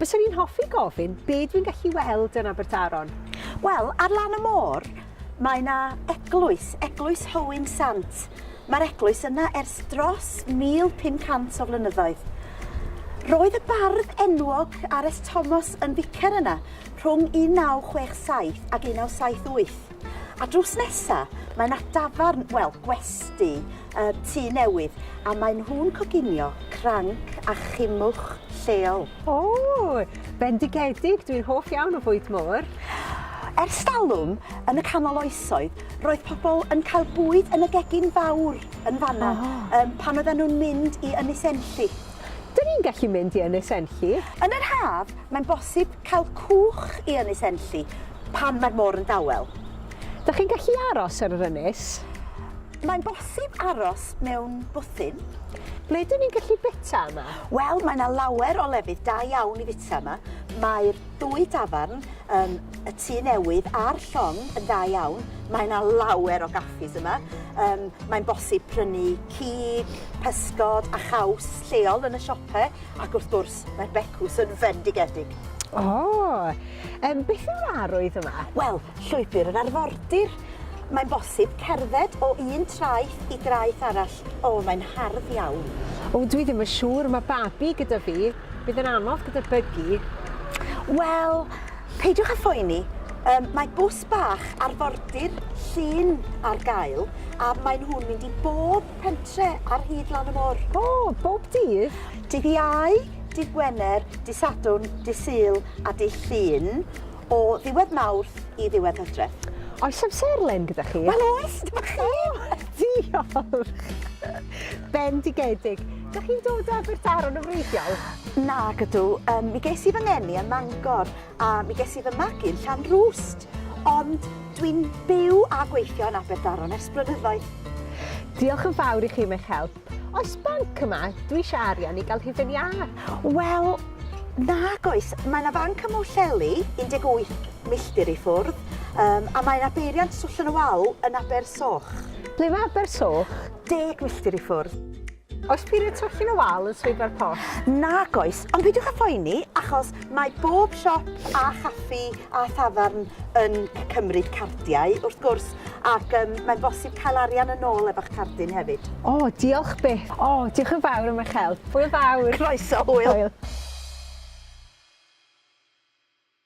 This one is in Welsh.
Byswn i'n hoffi gofyn be dwi'n gallu weld yn Abertaron? Wel, ar lan y môr, mae yna eglwys, Eglwys Hywyn Sant. Mae'r eglwys yna ers dros 1,500 o flynyddoedd. Roedd y bardd enwog Ares Thomas yn ficer yna rhwng 1967 ac 1978. A drws nesa, mae yna dafarn, wel, gwesti, y tŷ newydd a maen nhw'n coginio cranc a chimwch lleol. O! Bendigedig! Dwi'n hoff iawn o fwyd môr. Ers talwm, yn y canol oesoedd, roedd pobl yn cael bwyd yn y gegin fawr yn fanna oh. pan oedden nhw'n mynd i Ynys Enlli. Dyn ni'n gallu mynd i Ynys Enlli? Yn yr haf, mae'n bosib cael cwch i Ynys Enlli pan mae'r môr yn dawel. Dych chi'n gallu aros ar yr ynys? Mae'n bosib aros mewn bwthyn. Ble dyn ni'n gallu bita yma? Wel, mae yna lawer o lefydd da iawn i fita yma. Mae'r dwy dafarn, um, y tu newydd a'r llong yn dda iawn. Mae yna lawer o gaffis yma. Um, mae'n bosib prynu cig, pysgod a chaws lleol yn y siopau ac wrth gwrs mae'r becws yn fendigedig. O, oh, um, beth yw'r arwydd yma? Wel, llwybr yr arfordir. Mae'n bosib cerdded o un traeth i draeth arall. O, mae'n hardd iawn. O, dwi ddim yn siŵr, mae babi gyda fi. Bydd yn anodd gyda bygi. Wel, peidiwch â phoeni. Um, mae bws bach arfordir llun ar gael a maen nhw'n mynd i bob pentre ar hyd lan y môr. O, bob dydd? Dydd Iau, dydd Gwener, dydd Sadwrn, dydd Sul a dydd Llun. o ddiwedd Mawrth i ddiwedd Hydref. Oes amserlen gyda chi? Wel oes, dyma chi! Diolch! Bendigedig. Dych chi'n dod o Abertaron yn wreiddiol? Na, gydw. Um, mi ges i fy ngeni ym Mangor a mi ges i fy magu yn Llan Rwst. Ond dwi'n byw a gweithio yn Abertaron ers blynyddoedd. Diolch yn fawr i chi am eich help. Oes banc yma? Dwi eisiau arian i gael hufen iâ. Wel, nag oes. Mae yna fanc ym Mhwllheli, 18 milltir i ffwrdd, um, a mae yna beiriant swllon y wal yn Aber Soch. Ble mae Aber Soch? 10 milltir i ffwrdd. Oes peiriant swllon y wal yn swyddfa'r post? Nag oes, ond peidiwch â phoeni, achos mae bob siop a chaffi a thafarn yn cymryd cardiau, wrth gwrs, ac yym mae'n bosib cael arian yn ôl efo'ch cardyn hefyd. O, diolch byth. O, diolch yn fawr am eich help. Hwyl fawr. Croeso, hwyl. Hwyl.